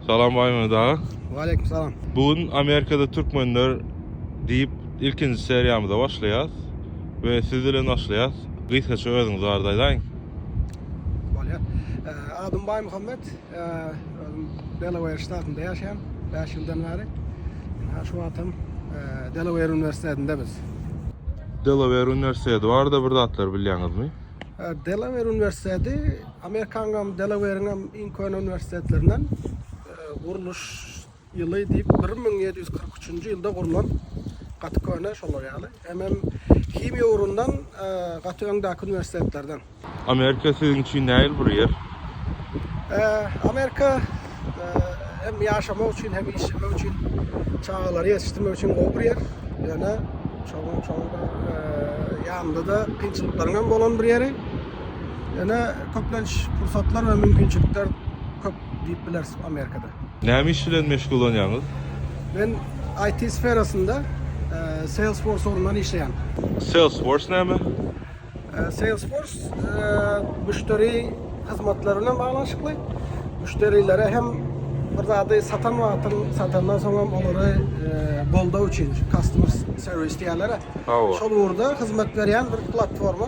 Salam Baýmyrat aga. Waleýkim salam. Bu gün Amerikada türkmenler diýip ilkinji seriýamyza başlaýas we siz bilen başlaýas. Gysgaça özüňiz barada aýdaýyň. Bolýar. Adym Baýmuhammet. Özüm Delaware ştatynda ýaşaýan 5 ýyldan bäri. Ina şu wagtam Delaware uniwersitetinde biz. Delaware uniwersiteti barada bir zatlar bilýäňizmi? Delaware uniwersiteti Amerikanyňam, Delaweriňem iň köne uniwersitetlerinden gurluş ýyly diýip bir müň ýedi ýüz kyrk üçünji ýylda gurlan gaty köne şolar ýaly. Hemem himiýa ugrundan gaty öňdäki uniwersitetlerden. Amerika siziň üçin nähili bir ýer? Amerika hem ýaşamak üçin hem işlemek üçin çagalary ýetişdirmek üçin gowy bir ýer. Ýöne şonuň şonuň ýanynda-da kynçylyklaryň hem bolan bir ýeri. Ýöne köplenç pursatlar we mümkinçilikler köp diýip bileris Amerikada. Näme iş bilen meşgullanýaňyz? Men IT sferasynda e, Salesforce orundan işleýän. Salesforce näme? E, Salesforce e, müşderi hyzmatlary bilen baglanyşykly. Müşderilere hem bir zady satan wagtyň satandan soň hem olary e, goldaw üçin customer service diýerler. Hawa. Şol ugurda hyzmat berýän bir platforma.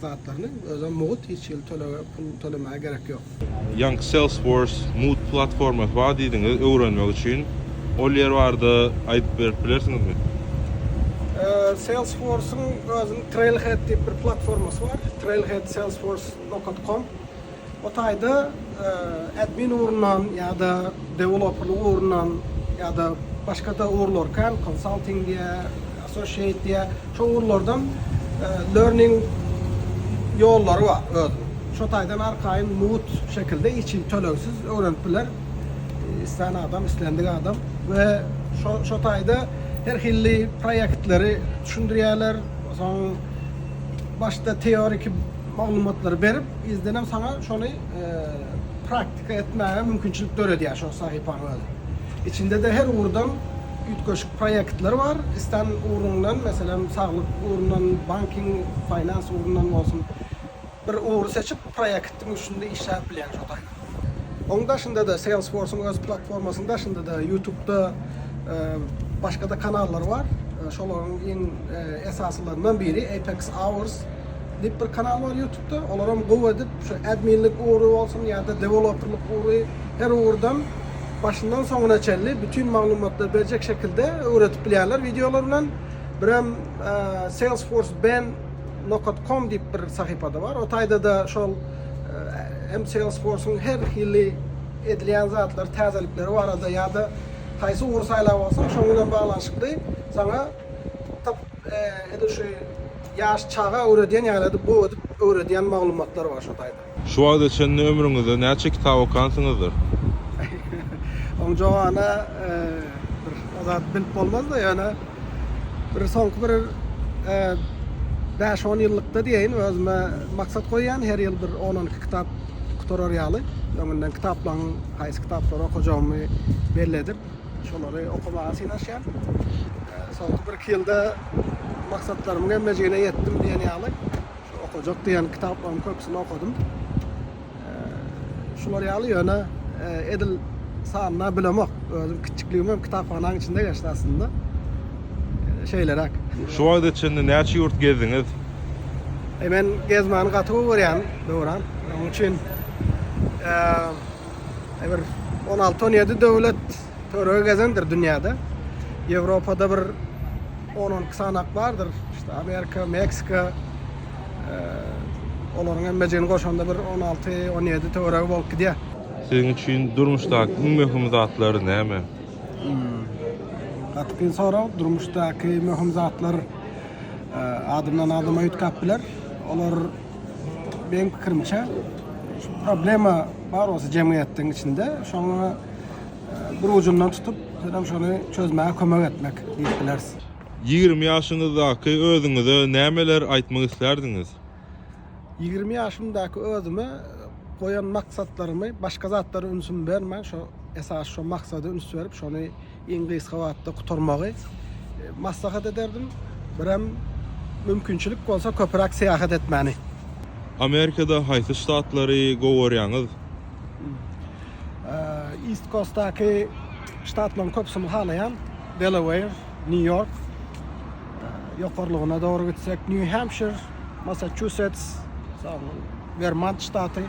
zatlaryny özem mugut hiç hili tölege pul tölemäge gerek ýok. Ýaňky Salesforce mugt platformasy bar diýdiňiz öwrenmek üçin ol ýer barada aýdyp berip bilersiňizmi? Salesforce-yň özüniň Trailhead diýip bir platformasy bar. Trailhead Salesforce nokat kom. Bu taýda admin ugrundan ýa-da deweloperlik ugrundan ýa-da başga-da ugurlar kän, konsalting diýýä, associate diýýä, şo ugurlardan learning ýollary bar özüniň. Şo taýdan arkaýyn mugt şekilde hiç kim tölegsiz öwrenip biler islän adam, islendik adam we şo şo taýda her hilli proýektleri düşündirýärler. Soň başda teoriki maglumatlary berip, yzdenem saňa şony praktika etmäge mümkinçilik döredýär şo sahypaň özi. Içinde-de her ugurdan üýtgeşik proýektler bar. Islän ugruňdan, meselem, saglyk ugrundan, banking, finans ugrundan bolsun, bir ugry seçip, proýektiň üstünde işläp bilýäň şo taýdan. Oň daşynda-da Salesforce-yň öz platformasynyň daşynda-da YouTube-da başga-da kanallar bar. Şolaryň iň esasylaryndan biri Apex Hours diýip bir kanal bar YouTube-da. Olaram gowy edip şu adminlik ugry bolsun ýa-da deweloperlik ugry her ugurdan başyndan soňuna çenli bütin maglumatlary berjek şekilde öwredip bilýärler wideolar bilen. Birem Salesforce Ben. Com diýip bir sahypada bar. O taýda-da şol Hem Salesforce-yň her hili edilýän zatlar, täzelikleri barada ýa-da haýsy ugry saýlap alsaň, şoň bilen baglanyşykly saňa tap edil şu ýaş çaga öwredýän ýaly edip gowy edip öwredýän maglumatlar bar şu taýda. Şu wagta çenli ömrüňizde näçe kitap okansyňyzdyr? Oň jogabyna bir o zat bilip bolmaz-da ýöne. Bir soňky bir bäş-on ýyllykda diýeýin, özüme maksat goýýan, her ýyl bir on-on iki kitap gutarar ýaly. Öňünden kitaplaryň, haýsy kitaplary okajagymy belli edip, şolary okamaga synanyşýan. Soňky bir-iki ýylda maksatlarymyň hemmejigine ýetdim diýen ýaly. Şu okajak diýen kitaplarymyň köpüsini okadym. Şular ýaly ýöne edil sanyna bilemok. Özüm kiçjikligim hem kitaphanaň içinde geçdi aslynda. Şeýleräk. Şu wagta çenli näçe ýurt gezdiňiz? Men gezmäni gaty gowy görýän Döwran. Onuň üçin bir on alty, on ýedi döwlet törä gezendir dünýäde. Ýewropada bir on, on iki sanak bardyr. Amerika, Meksika, Olaryň hemmejigini goşanda bir on alty, on ýedi töweregi bolup gidýär. Siziň üçin durmuşdaky iň möhüm zatlar näme? Gaty kyn sorag. Durmuşdaky möhüm zatlar adamdan adama üýtgäp biler. Olar meň pikirimçe problema bar bolsa jemgyýetdin içinde şoňa bir ujundan tutup, şony çözmäge kömek etmek diýip bileris. Ýigrimi ýaşyňyzdaky özüňize nämeler aýtmak islärdiňiz? Ýigrimi ýaşymdaky özüme goýan maksatlarymy başga zatlara ünsüm bermän, şo esasy şo maksada üns berip, şony iň gysga wagtda gutarmagy maslahat ederdim. Birem mümkinçilik bolsa köpüräk syýahat etmäni. Amerikada haýsy ştatlary gowy görýäňiz? East Coast-daky ştatlaryň köpüsini halaýan. Delaware. New York ýokarlygyna dogry gitsek, New Hampshire, Massachusetts, Vermont ştaty,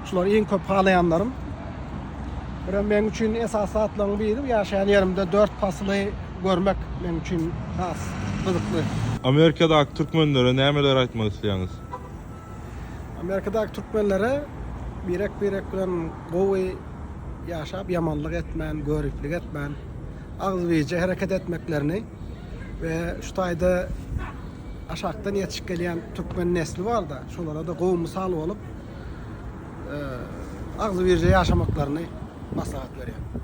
şular iň köp halaýanlarym. Birem men üçin esas zatlaryň biri ýaşaýan ýerimde 4 pasly görmek men üçin has gyzykly. Amerikadaky türkmenlere nämeleri aýtmak isleýäňiz? Amerikadaky türkmenlere birek-birek bilen gowy ýaşap, ýamanlyk etmän, göriplik etmän. agzybirje hereket etmeklerini we şu taýda aşakdan ýetişip gelýän türkmen nesli barda, şolara-da gowy mysal bolup, agzybirje ýaşamaklaryny maslahat berýär.